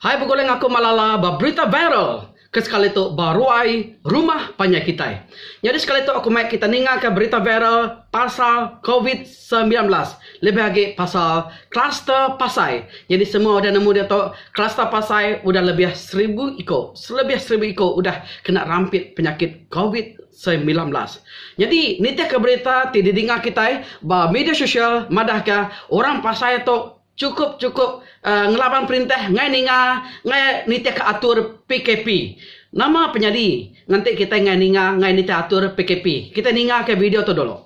Hai begulai ngaku Malala ba berita viral ke sekali tu ba ruai rumah panjai kitai. Nyadi sekali tu aku mai kita ningaka berita viral pasal covid semilan belas lebih agi pasal kluster pasai. Nyadi semua udah nemu diatu kluster pasai udah lebih seribu iku selebih seribu iku udah kena rampit penyakit covid semilan belas. Nyadi nitihka berita ti didinga kitai ba media sosial madahka orang pasai tu Chukup chukup ngelaban perintah ngai ninga ngai nitihka atur PKP. Nama penyadi ngenti kitai ngai ninga ngai nitih atur PKP. Kitai ninga ka video tu dulu.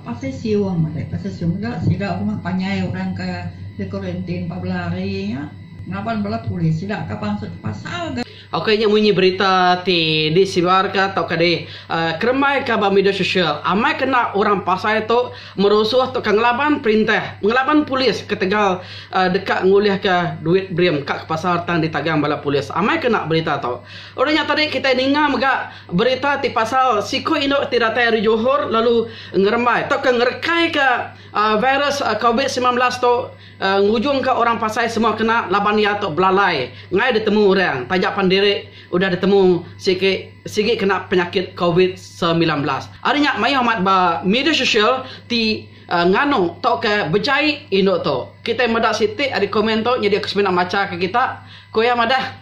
Pasal siu amat ai pasal siu mega sida rumah panjai orang ke di kuarantin empat belas hari nya ngelaban bala polis sida ka pansut pasal ga. Oka nya munyi berita ti disebarka tauka dikremaika ba media sosial, amai kena orang pasai tu merusuh tauka ngelaban perintah, ngelaban polis ketegal deka ngulihka duit brim ka ke pasar tang ditagang bala polis. Amai kena berita tu. Udah nya tadi kitai ninga mega berita ti pasal siku indu ti datai ari Johor lalu ngerembai tauka ngerekaika virus covid semilan belas tu. Ngujungka orang pasai semua kena laban iya tu belalai enggai ditemu orang taja pan diri udah ditemu sigi sigi kena penyakit covid semilan belas. Ari nya mayuh amat ba media sosial ti nganu tauka bejai indu tu. Kitai meda siti ari komen tu nyadi aku semina machaka kita. Ku iya madah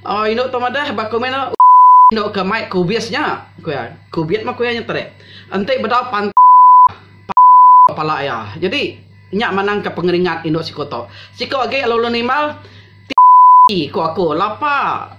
uhh indu tu madah ba komen tu uhh indu ke mai kubis nya ku iya. Kubit mah ku iya nya tadi. Enti bedau pantang pantang pala iya. Nyadi. Nya manangka pengeringat indu siku tu. Siku agi lalu nimbal, Ti, ku aku, lapa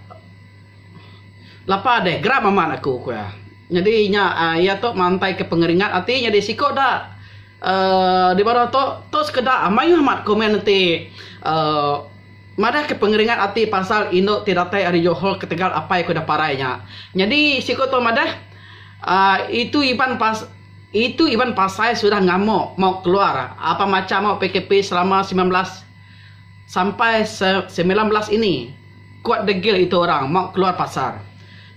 lapa deh, geram amat aku, ku iya. Nyadi nya iya tu mantaika pengeringat ati nyadi siku da uhh di baruh tu, tu sekeda mayuh amat komen enti uhh madahka pengeringat ati pasal indu ti datai ari Johor ketegal apai ku da parai nya. Nyadi siku tu madah uhh itu iban pas. Itu Iban Pasai sudah ngamuk mau keluar apan macha mau PKP selama semilan belas sampai semilan belas ini. Kuat degil itu orang mau keluar pasar.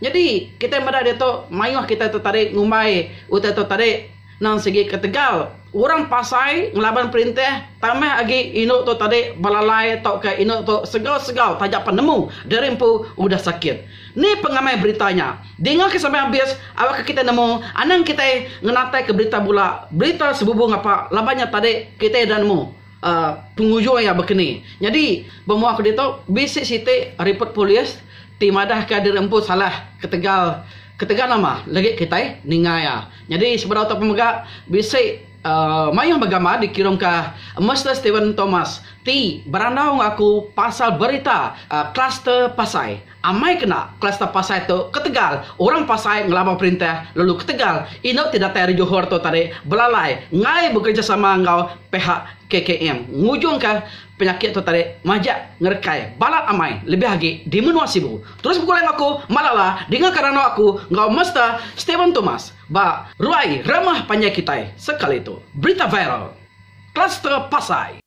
Nyadi kitai meda ditu mayuh kitai tu tadi ngumbai utai tu tadi nang sigi ketegal orang Pasai ngelaban perintah tambah agi indu tu tadi belalai tauka indu tu segau-segau taja penemu diri empu udah sakit. Ni pengamai berita nya? Dingaka sampai habis awakka kitai nemu anang kitai ngenataika berita bula berita sebubu ngapa laban nya tadi kitai enda nemu uhh pengujung iya bekeni. Nyadi bemua aku ditu bisi siti ripot polis ti madahka diri empu salah ketegal ketegal nama legi kitai ninga iya. Nyadi sebedau tu pemega bisi. Mayuh begambar dikirumka Mister Stephen Thomas ti berandau enggau aku pasal berita kluster pasai. Amai kena kluster pasai tu ketegal orang pasai ngelaban perintah lalu ketegal indu ti datai ari Johor tu tadi belalai enggai bekerejasama enggau pihak KKM ngujungka penyakit tu tadi majak ngerekai balat amai lebih agi di menua Sibu. Terus begulai enggau aku Malala dingaka randau aku enggau Mister Stephen Thomas. Ba ruai ramah panjai kitai sekali tu, berita viral, Kluster Pasai.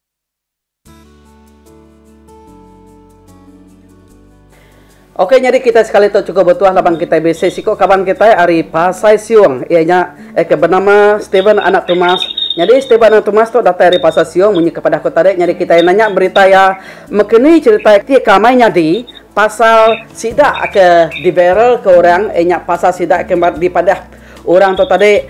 Ok nyadi kitai sekali tu chukup betuah laban kitai bisi siku kaban kitai ari Pasai Siung iya nya aka benama Steven Anak Tumas. Nyadi Steven Anak Tumas tu datai ari Pasai Siung munyi ke padah ku tadi nyadi kitai nanya berita iya mekeni cherita ti ka amai nyadi. Pasal sida ke diviral ke orang iya nya pasal sida ke dipadah orang tu tadi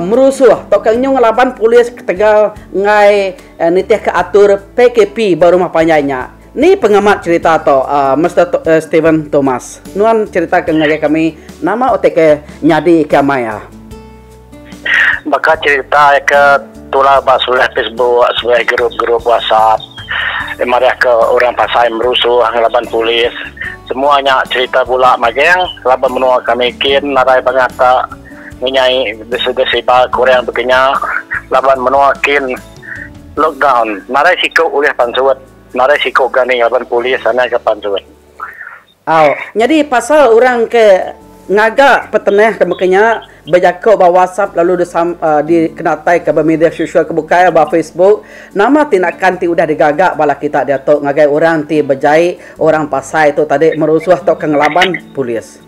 merusuh tauka nyu ngelaban polis ketegal enggai nitihka atur PKP ba rumah panjai nya. Ni pengamat cherita tu Mister Steven Thomas. Nuan cheritaka ngagai kami nama utai ke nyadi ke amai a. Baka cherita ke tular ba sulih Facebook sulih group-group WhatsApp ti marah ke orang pasai merusuh ngelaban polis semua nya cherita bula mageng laban menua kami kin narai bangat ka menyai sida siba ke orang bekenya laban menua kin lockdown narai siku ulih pansut narai siku gani laban polis anang ke pansut. Au. Nyadi pasal orang ke ngaga petenah ke meka nya bejako ba WhatsApp lalu dikenataika ba media sosial ke bukai ba Facebook, nama tindakan ti udah digaga bala kita diatu ngagai orang ti bejai orang pasai tu tadi merusuh tauka ngelaban polis?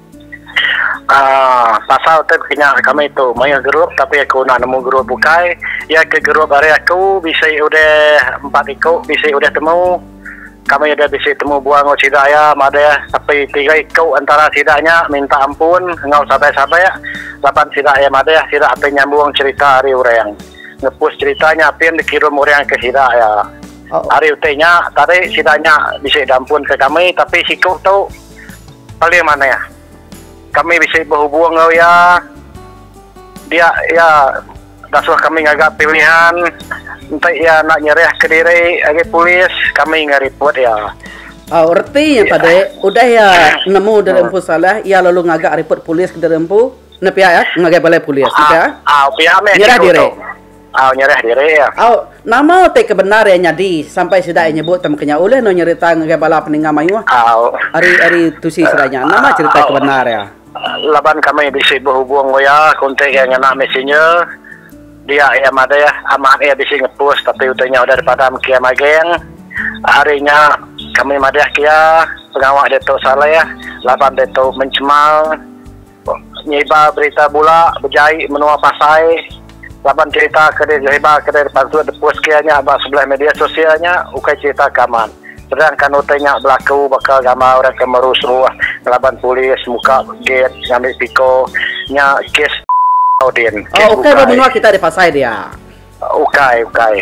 Aaa pasal tu meka nya kami tu mayuh group tapi aku enda nemu group bukai, iya ke group ari aku bisi udah empat iku bisi udah temu. Kami udah bisi temu buah enggau sida iya madah tapi tiga iku entara sida nya minta ampun enggau sabak-sabak laban sida iya madah sida apin nyambung cherita ari orang ngepus cherita nya apin dikirum orang ke sida iya. Ari utai nya tadi sida nya bisi diampun ke kami tapi siku tu paling manah. Kami bisi behubung enggau iya dia iya Basuh kami ngaga pilihan enti iya enda nyerahka diri agi polis kami enggai ripot iya. Au reti nya padi udah iya nemu diri empu salah iya lalu ngaga ripot polis ke diri empu enda pia iya ngagai balai polis enda pia. Au pia meh nyerah diri. Au nyerah diri iya. Au nama utai ke bendar iya nyadi sampai sida iya nyebut tama ke nya ulih endur nyerita ngagai bala peningga mayuh ari ari tusi sida nya nama cherita ke bendar iya. Laban kami bisi behubung enggau iya, kontak iya ngena messenger, dia iya madah amat iya bisi ngepus tapi utai nya udah dipadam ke iya maging. Ari nya kami madah ke iya pengawa diatu saleh laban diatu mencemal nyibar berita bula bejai menua pasai. laban cherita ke disebar ke dibantu dipus ke nya ba sebelih media sosial nya ukai cherita ke aman terang kan utai nya belaku baka gambar orang ke merusuh ngelaban polis muka gate ngambi piko nya kes tau din kes bukai ukai ba menua kita di pasai dia ukai ukai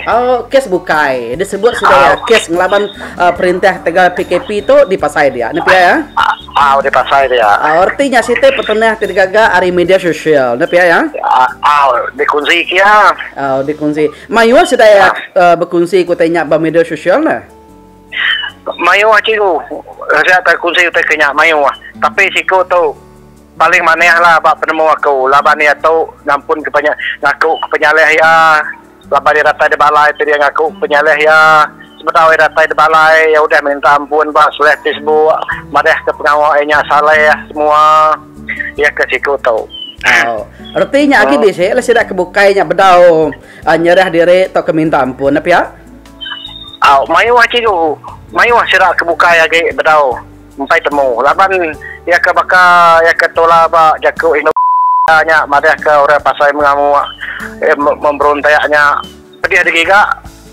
kes bukai disebut sida kes ngelaban perintah tegal PKP tu di pasai dia nepi iya. Mau di pasai dia. Rti nya siti petenah ti digaga ari media sosial. Enda pia iya? Di kunsi ke iya. Di kunsi. Mayuh sida iya bekunsi ke utai nya ba media sosial enda? Mayuh cikgu aja ke kunsi utai ke nya mayuh. Tapi siku tu paling manah lah ba penemu aku laban iya tu ngampun ke ngaku ke penyalih iya. Laban iya datai deba alai tu dia ngaku penyalih iya. Sebedau iya datai deba alai, iya udah minta ampun ba Salleh ti sembu madahka pengawa iya nya Salleh semua iya ke siku tu. Tau. Reti nya agi bisi lah sida ke bukai nya bedau uh, nyerah diri tauka minta ampun nah pia. Au, mayuh cikgu. Mayuh sida ke bukai agi bedau. Empai temu laban iya ke baka iya ke tula ba jaku indu Malaysia nya madah ke orang pasai mengamu memberontak nya pedih agi giga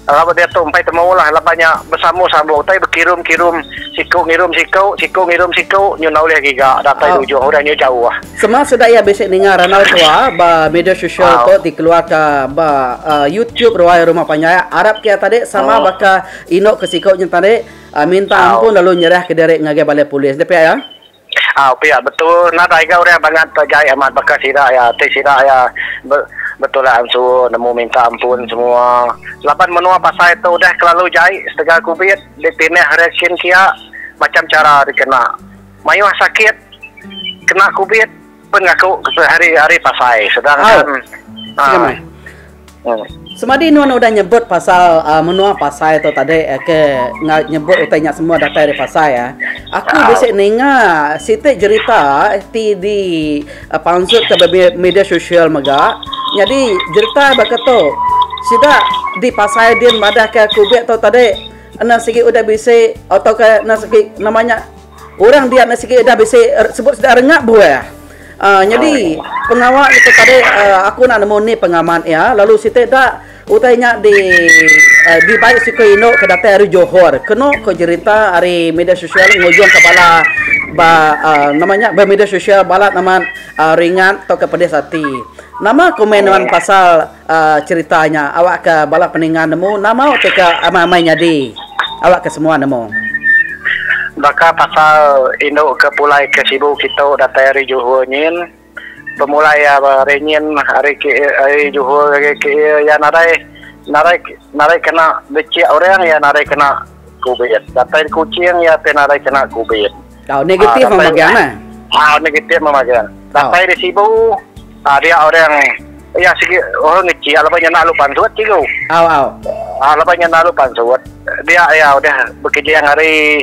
laban diatu empai temu lah laban nya besambu sambu utai bekirum kirum siku ngirum siku siku ngirum siku nyunau ulih giga datai di ujung udah nyu jauh. Sema sida iya bisi ninga randau tua ba media sosial tu dikeluarka ba YouTube ruai rumah panjai arap ke iya tadi sama baka indu ke siku nya tadi. Au minta ampun lalu nyerah ke diri ngagai balai polis deh pia ya. Au pia betul enda taiga orang bangat ke jai amat baka sida ya ti sida ya betulan suo nemu minta ampun semua laban menoa pasai tu udah kelalu jai setega kubit di pineh hari kin kia macam chara dikena maioh sakit kena kubit. Pen aku sehari hari pasai sedangkan uh. Semadi nuan udah nyebut pasal uh, menua pasai tu tadi uh, ke nyebut utai nya semua datai dari pasai uh. Aku uh. bisi ninga siti cerita ti di uh, pansut ke media sosial mega. Jadi cerita baka tu sida di pasai din madah ke kubik tu tadi Ana sigi udah bisi atau ke ana sigi namanya Orang dia enda sigi eda bisi sebut sida rengap buah. Uh, nyadi pengawa itu tadi uh, aku nak nemu ni pengamat ya lalu siti da utai nya di uh, di baik suku Indo ke datai hari Johor kena ke jerita hari media sosial ngujung ke bala ba uh, nama nya ba media sosial bala nama uh, ringat atau ke pedis hati nama komen nama pasal Cherita nya awak ke bala peninga nemu nama ti ke amai-amai nyadi awak ke semua nemu. Baka pasal indu ke pulai ke sibu kitu datai ari Johor nyin. Pemulai ari nyin ari ke ari Johor ke iya nadai nadai nadai kena bechik orang iya nadai kena Kubit. Datai di Kuching iya ti nadai kena kubit. Tau negatif mah magang nah. Ha negatif mah magang. Datai di Sibu ha dia orang iya sigi orang ngecik laban iya enda alu pansut sigu. Au au. Ha laban iya enda alu pansut. Dia iya udah bekejang hari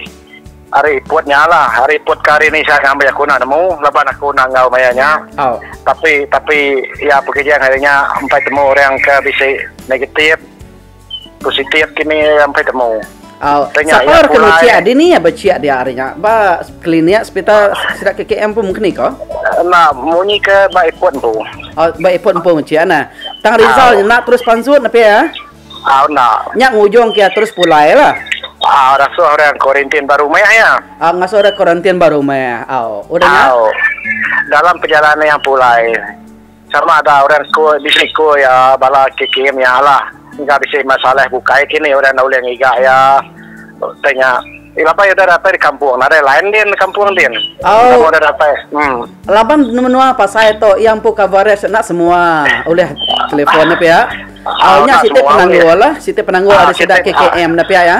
hari iput nya lah. Hari iput ke hari ni saya ngambi aku enda nemu laban aku enda enggau maya nya. Au. Tapi tapi iya pekejang hari nya empai temu orang ke bisi negatif. Positif kini ampai temu. Au, sapa orang kena ciak adi ni ya beciak dia hari nya ba klinik hospital sida KKM pun mungkin iko. Enda munyi ke ba ipot empu. Oh, ba ipot empu ciak nah. Tang Rizal nya nak terus pansut nepi ya. Au enda. Nya ngujung ke terus pulai lah. Ah, rasuh orang kuarantin ba rumah ya. Ah, ngasuh orang kuarantin ba rumah. Au, udah nya. Au. Dalam perjalanan yang pulai. Sama ada orang sekul, bisi sekul iya bala ke kiye mia lah. Enda bisi masalah bukai ke ni orang enda ulih ngiga iya. Utai nya. Ih laban iya udah datai di kampung. Nadai lain din di kampung din. Au. Udah datai. Em. Laban menua pasai tu iya empu coverage enda semua ulih telefon nya pia. Au nya siti penanggul lah. Siti penanggul ari sida KKM nya pia iya.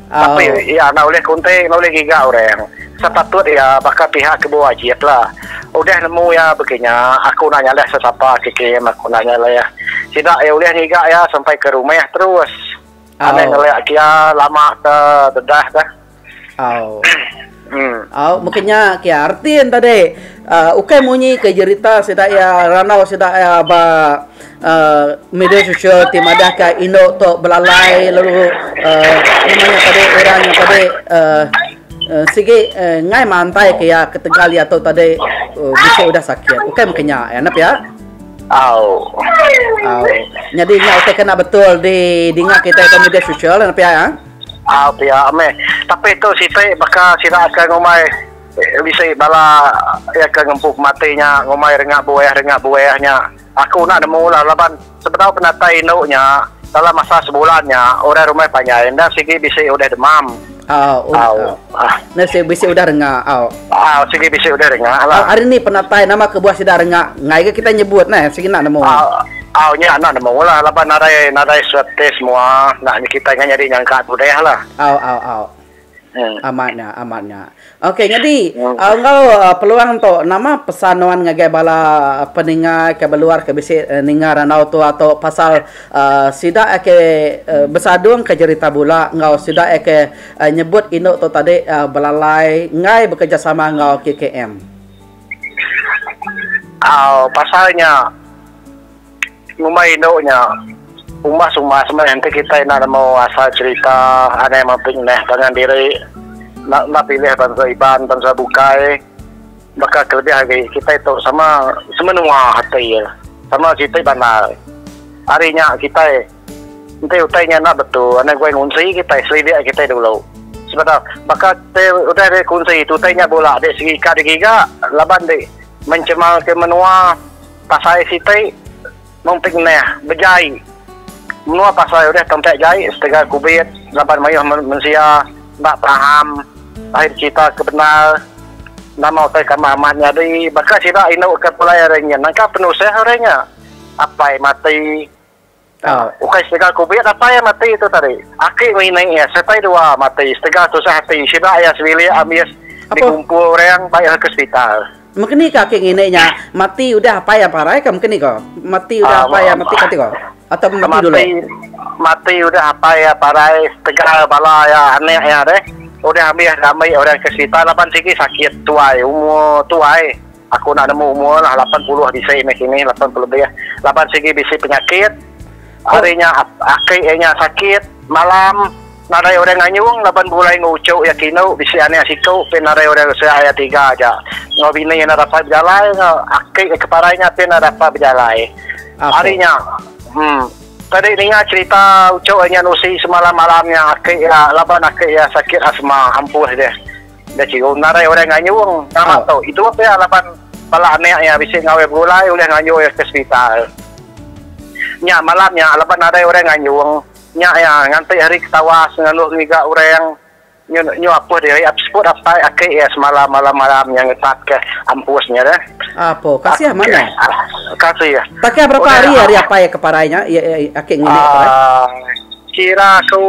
Tapi iya enda ulih kunting enda ulih giga orang. Sepatut iya baka pihak ke bewajib la. Udah nemu iya begi nya aku enda nyalih sesapa ke kem aku enda nyalih. Sida iya ulih ngiga iya sampai ke rumah terus. Anang ngelak ke iya lama ke dedah ka. Hmm. Au meka nya ke Artin tadi. Uh, ukai munyi ke jerita sida ya randau sida ya ba uh, media sosial ti madah ke Indo tu belalai lalu uh, nama nya tadi orang yang tadi uh, uh, sigi uh, ngai mantai ke ya ketegal ya tu tadi uh, bisa udah sakit. Ukai meka nya ya nap ya. Au. Au. Jadi nya utai kena betul di dinga kita di media sosial nap ya. ya? Au pia meh. Tapi tu siti baka sida ke ngumbai bisi bala iya ke ngempu pemati nya ngumbai renga buah renga buah nya. Aku enda nemu lah laban sebedau penatai indu nya dalam masa sebulan nya orang rumah panjai enda sigi bisi udah demam. Au. Enda sigi bisi udah renga. Au. Au sigi bisi udah rengak la. Au ari ni penatai nama kebuah sida rengak enggai ga kitai nyebut neh sigi enda nemu. Au au nya enda nemu la laban nadai nadai swab test mua enda nya kitai enggai nyadi nyangka tu deh la. Au au au. Em. Amat nya amat nya. Okey nyadi au enggau peluang tu nama pesan nuan ngagai bala peninga ke beluar ke bisi ninga randau tu ato pasal sida ake besadung ke jerita bula enggau sida ake nyebut indu tu tadi belalai enggai bekerejasama enggau KKM. Au pasal nya ngumbai indu nya umbas-umbas meh enti kitai enda nemu asal cherita anai meping neh pangan diri enda pilih bansa Iban bansa bukai baka kelebih agi kitai tu sama semenua ati sama siti bandar ari nya kitai Enti utai nya enda betul, enda guai ngunsi kitai, selidik kitai dulu. Sebedau baka kitai udah deh kunsi tu utai nya bula deh segi ka digiga laban deh mencemarka menua pasai siti mung pik neh bejai. Menua pasai udah tempat jai setegal kubit laban mayuh mensia enda paham ahi becerita ke bendar nama utai kamah amat nyadi. Baka sida indu ke pulai ari nya nangka penusah ari nya apai mati. Tang, ukai setega kubik datai iya mati tu tadi. Aki ngelinik iya sereta dua mati setega tusah ati sida iya sebilik ambis dikumpul orang ba iya ke sepital. Mekeni ka aki ngini nya mati udah apai iya parai ka mekeni ko? Mati udah apai iya mati kati ko? Atau meh mati dulu? Mati udah apai iya parai setega bala iya anak iya deh udah ambis diambi orang ke sepital laban sigi sakit tuai umur tuai. Aku enda nemu umur lah lapan puluh bisi meh kini lapan puluh lebih laban sigi bisi penyakit hari nya aki iya nya sakit malam nadai orang nganyung laban begulai enggau uchu iya kinu bisi anak siku pin nadai orang ngeresak iya tiga aja enggau bini iya enda dapat bejalai enggau aki iya ke parai nya pin enda dapat bejalai hari nya um tadi ninga cerita uchu iya nya nusi semalam malam nya aki iya laban aki iya sakit asma ampuh deh. Enda chio menarai orang ngayung. Tama tu, itu pia laban bala anak iya bisi ngawai begulai ulih ngayuh iya ke sepital. Nya malam nya laban nadai orang ngayung, nya iya nganti hari ke tawas ngaloh ngiga orang nyun nyu apuh diri ap seput apai aki iya semalam malam malam nya ngetat ke ampus nya deh. Apo kasih amat nya. Kasih. Baka berapa hari ari apai iya ke parai nya, iya aki ngini ke parai? Ai. Kira aku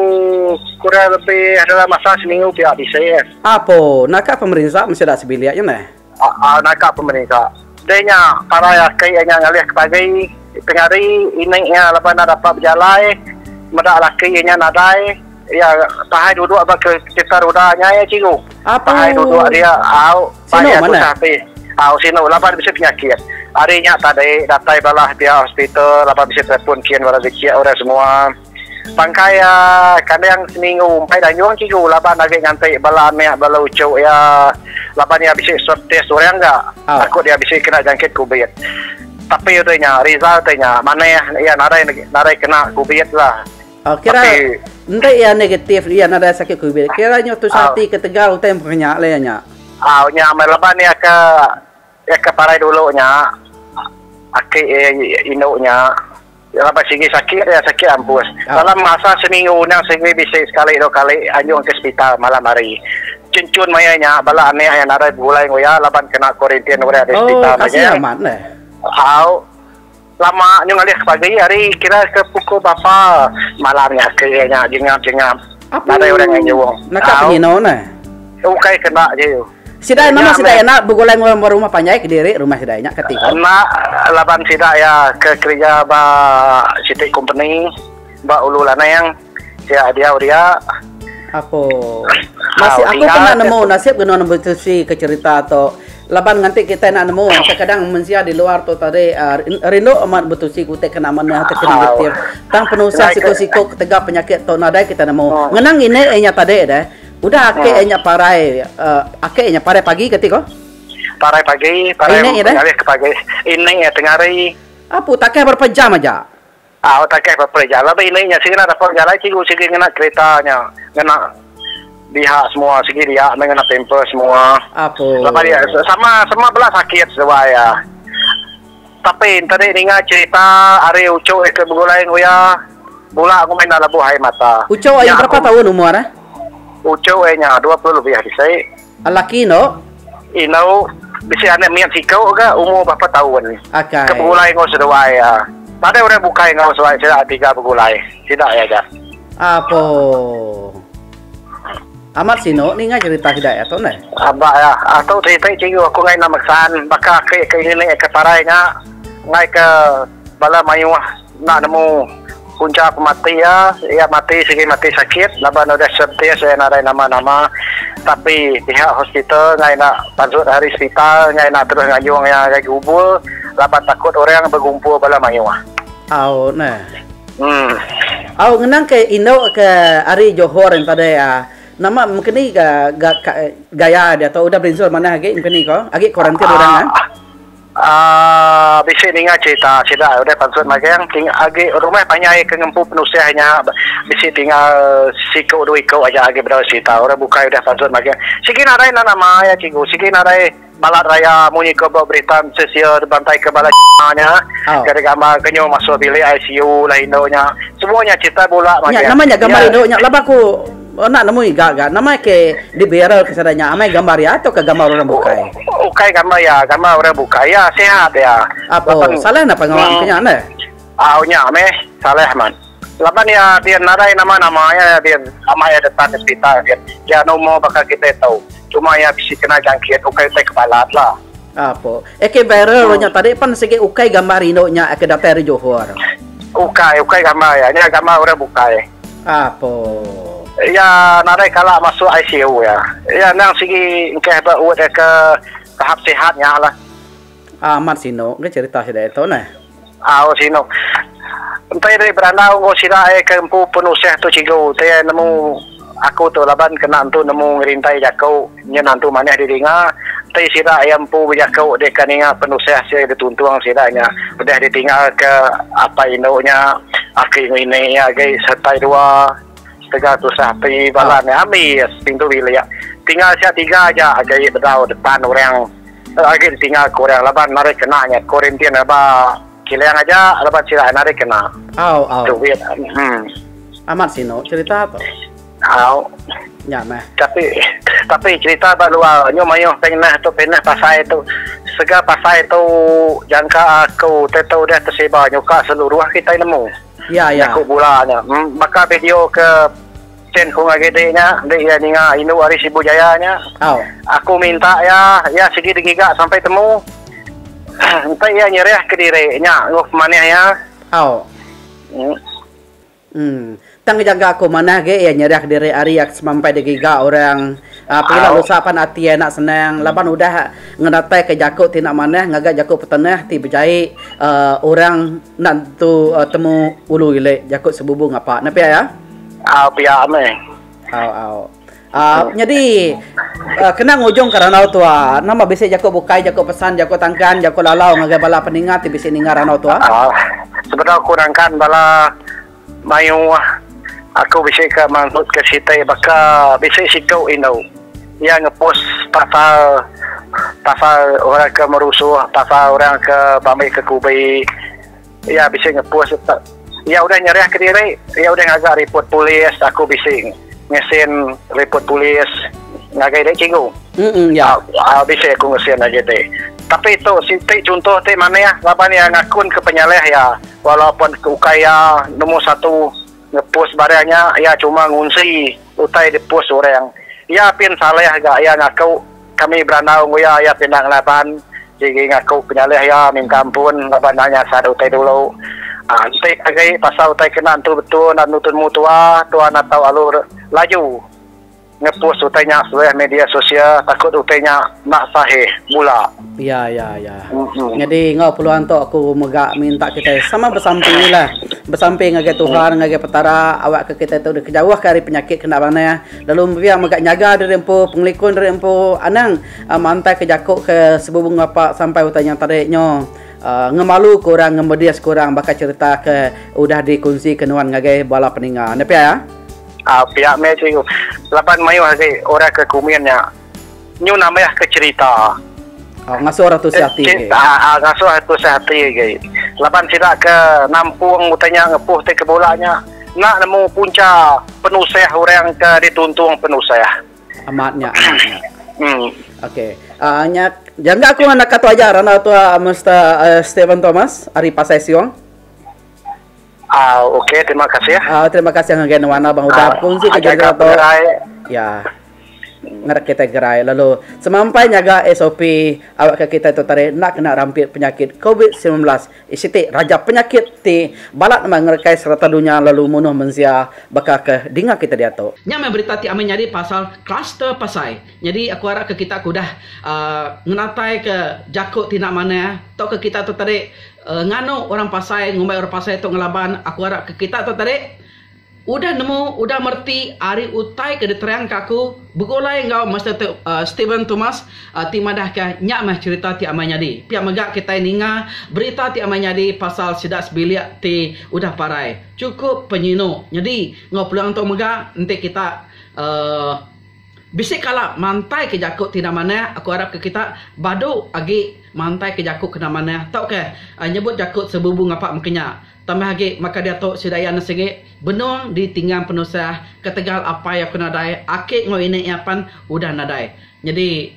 kurang lebih adalah masa seminggu pia bisi. Apo, naka pemerinsa mesti ada sebilik nya neh. Aa, naka pemerinsa. Deh nya parai aki iya nya ngalih ke pagi tengah hari ini iya laban enda dapat bejalai meda laki iya nya nadai iya pahai duduk ba kereta ruda nya iya cikgu. Apo. Pahai duduk dia au. Sinu manah. Au sinu laban bisi penyakit. Ari nya tadi datai bala pia hospital laban bisi telefon kin bala dichik orang semua. Bangkai iya kandang seminggu umpai da nyung kigu laban agi nganti bala anak bala uchu iya laban iya bisi swab test orang ga takut iya bisi kena jangkit covid. Tapi udah nya result udah nya manah iya nadai nadai kena covid lah. Oh, kira enti ia negatif ia nadai sakit covid. Kira nyu tu ah. sati ke tegal utai menya le nya. Ah, nya mai leban ia ke ia ke parai dulu nya. Aki eh, indu nya. Ya, leban sigi sakit ia sakit ampus. Ah. Dalam masa seminggu nya sigi bisi sekali dua kali anjung ke hospital malam hari. Cencun maya nya bala anak yang nadai begulai ngoya leban kena kuarantin udah di oh, hospital. Oh, kasih amat le. Au. Lama nyu ngalih ke pagi ari kira ke pukul bapa malam nya ke iya nya jengap jengap nadai orang ngai nyuong. Naka penyinu ne. Ukai ke enda ji. Sida nama sida iya enda begulai enggau orang ba rumah panjai kediri rumah sida iya nya kati ko. Enda laban sida iya ke kerja ba siti kompeni ba ulu lanang. Sia diau dia. Apo. Masih aku pernah nemu nasib genun Empu Tilsi ke cerita tu. Laban nganti kitai enda nemu kadang-kadang mensia di luar tu tadi rindu amat Empu Tilsi ke utai kena manah ke kena nitih. Tang penusah siku-siku ketegal penyakit tu nadai kita nemu. Ngena ngini iya nya tadi deh. Udah ake iya nya parai ake iya nya parai pagi kati ko. Parai pagi, parai ngalih ke pagi. Ini iya tengah hari. Apu takah berapa jam aja. Au takai peperi jalai ba ini nya sigi enda dapat bejalai cikgu sigi ngena kerita nya ngena diha semua sigi dia meh ngena pamper semua laban ia sama sama bela sakit seduai ia tapi enti di ninga cerita ari uchu ia ke begulai enggau ia bula ngumit enda lebuh air mata nya aku uchu ia nya dua puluh lebih bisi. Lelaki endo. Indau bisi anak mit siku ga umur berapa taun. Ke begulai enggau seduai iya. Nadai orang bukai enggau seduai sida tiga begulai. Sida iya aja. Apo. Amat sinu ninga cerita sida iya tu neh. Aba iya. Atu siti cikgu aku ngai nama San. Baka aki ke ngini ke parai nya. Ngai ke bala mayuh. Enda nemu punca pemati iya, iya mati sigi mati sakit laban udah swab test iya nadai nama-nama tapi pihak hospital enggai enda panjut ari sepital enggai enda terus ngayung iya ngagai gerubul laban takut orang begumpul bala mayuh. Au neh. Uhh. Au ngenang ke indu ke ari Johor yen pade iya. Nama mengkeni ga ga gaya dia tu udah berinsul manah agi mengkeni ko. Agi kuarantin orang eh. Aa bisi ninga cerita sida udah pansut magang ti agi rumah panjai ke ngempu penusah nya bisi tinggal siku dua iku aja agi bedau serita orang bukai udah pansut magang sigi nadai enda nama iya cikgu sigi nadai balat raya munyi iku ba berita mesti sia dibantai ke bala nya ke digambar ke nyu masuk bilik ICU lah indu nya semua nya cerita bula magang iya. Enda nemu iga ga nama ke di viral ke sada nya amai gambar iya tau ka gambar orang bukai. Ukai gambar iya gambar orang bukai iya sihat iya. Apo salah napa ngau aku nya neh. Au nya meh salah amat. Laban iya din nadai nama nama iya din amai iya detan hospital din iya numor baka kitai tau cuma iya bisi kena jangkit ukai utai ke balat lah. Apo Eke viral lo nya tadi pen sigi ukai gambar rindu nya eke datai ari Johor. Ukai, ukai gambar iya. Nya gambar orang bukai. Apo. Iya nadai kala masuk ICU iya. Iya endang sigi engkah ba ward eke tahap sihat nya lah. Amat sinu ke cerita sida itu neh. Au sinu. Enti deh berandau enggau sida ai ke empu pun usah tu cigu ti ai nemu aku tu laban kena entu nemu ngerintai jaku nyin antu manah di dinga enti sida ia empu bejaku deh ka ninga penusah sia di tuntung sida nya udah di tinggal ke apai indu nya aki ngini ia agi setai dua setega tusah ati bala nya ami pintu bilik tinggal sia tiga aja agi bedau depan orang. Agi ditinga aku orang laban narit kena nya Korintin aba kilang aja laban sida narit kena. Au au. Duit uhh. Amat sinu cerita tu. Au. Nya meh. Tapi tapi cerita ba luar nyu mayuh peng nah tu peng nah pasai tu sega pasai tu jangka aku te tu deh tesiba nyuka seluruh kitai nemu. Ya ya. Jaku bula nya. Baka video ke. Chen Hung agi ti nya enti iya ninga indu ari Sibu Jaya nya. Au. Aku minta iya, iya sigi digiga sampai temu. Enti iya nyerah kediri nya enggau pemanih iya. Au. Nya. Em. Tang ngejaga aku manah agi iya nyerah kediri ari iya semampai digiga orang. Au. Pila lusa pan ati iya enda senang laban udah ngenataika jaku ti enda manah ngagai jaku petenah ti bejai, em, orang. Enda tu temu ulu ile jaku sebubu ngapa ne pia ya. Au pia meh. Au au. Uh, nyadi uh, kena ngujung ke ranau tua. Nama bisi jaku bukai, jaku pesan, jaku tangkan, jaku lalau ngagai bala peninga ti bisi ninga ranau tua? Uh, sebenar kurangkan bala Mayuh aku bisi ka manggut ka siti baka bisi siku indu iya ngepus pasal pasal orang ke merusuh pasal orang ke ba ambi ke kubi iya bisi ngepus iya udah nyerah ke diri iya udah ngaga riput polis aku bisi ngesin riput polis ngagai dia cikgu aaa bisi aku ngesin agi ti tapi tu siti chunto ti manih laban iya ngakun ke penyalah iya. Walaupun ke ukai iya nombor satu ngepost barang nya, iya cuma ngunsi utai dipost orang. Iya pin salah ga iya ngaku kami berandau enggau iya, iya pin enda ngelaban sigi ngaku penyalah iya minta ampun laban enda nyasat utai dulu. Enti agi pasal utai kena entu betul enda nemu temu tua, tua enda tau lalu laju. Ngepus utai nya sebelih media sosial takut utai nya enda sahih bula. Ya ya ya. Nyadi enggau peluang tu aku mega minta kitai sama besampilah. Besampi ngagai Tuhan ngagai Petara awakka kitai tu dikejauhka ari penyakit ke enda manah lalu pia mega nyaga diri empu pengelikun diri empu anang mantaika jaku ke sebubu ngapa sampai utai nya tadi nyo aaa ngemaluka orang ngemedis ke orang baka cherita ke udah dikongsi ke nuan ngagai bala peninga. Nya pia. Um pia meh cikgu laban mayuh agi orang ke kumin nya nyu nambah ke cerita. Um ngasuh orang tusah ati agi. Um ngasuh orang tusah ati agi laban sida ke nampung utai nya ngepuh ti ke bula nya enda nemu punca penusah orang ke dituntung penusah. Amat nya amat nya. Um. Okay um nya jangka aku nganak ka tu aja randau tu Mister Steven Thomas ari Pasai Siong. Au ok terima kasih. Au terima kasih ngagai nuan lah bang udah punsi ke jaga tu. Ya. Ngadak kita gerai lalu semampai nyaga SOP awak ke kita tu tadi enda kena rampit penyakit covid sembilan belas siti raja penyakit ti balat amat ngerekai serata dunya lalu munuh mensia baka ke dinga kita diatu. Nya meh berita ti amai nyadi pasal kluster pasai. Nyadi aku arap ke kita ke udah aaa ngenataika jaku ti enda manah tauka kita tu tadi. Nganu orang pasai ngumbai orang pasai tu ngelaban aku arap ke kita tu tadi udah nemu udah mereti ari utai ke diterang ka aku begulai enggau Master Steven Thomas ti madah ka nya meh cerita ti amai nyadi pia mega kitai ninga berita ti amai nyadi pasal sida sebilik ti udah parai cukup penyinu nyadi enggau peluang tu mega enti kita. Bisi kala mantai ke jaku ti enda manah aku arap ke kita badu agi mantai ke jaku kena manah tauka nyebut jaku sebubu ngapa meka nya tambah agi maka diatu sida iya nesengi benung di tinggang penusah ketegal apai aku nadai aki enggau ini iya pan udah nadai nyadi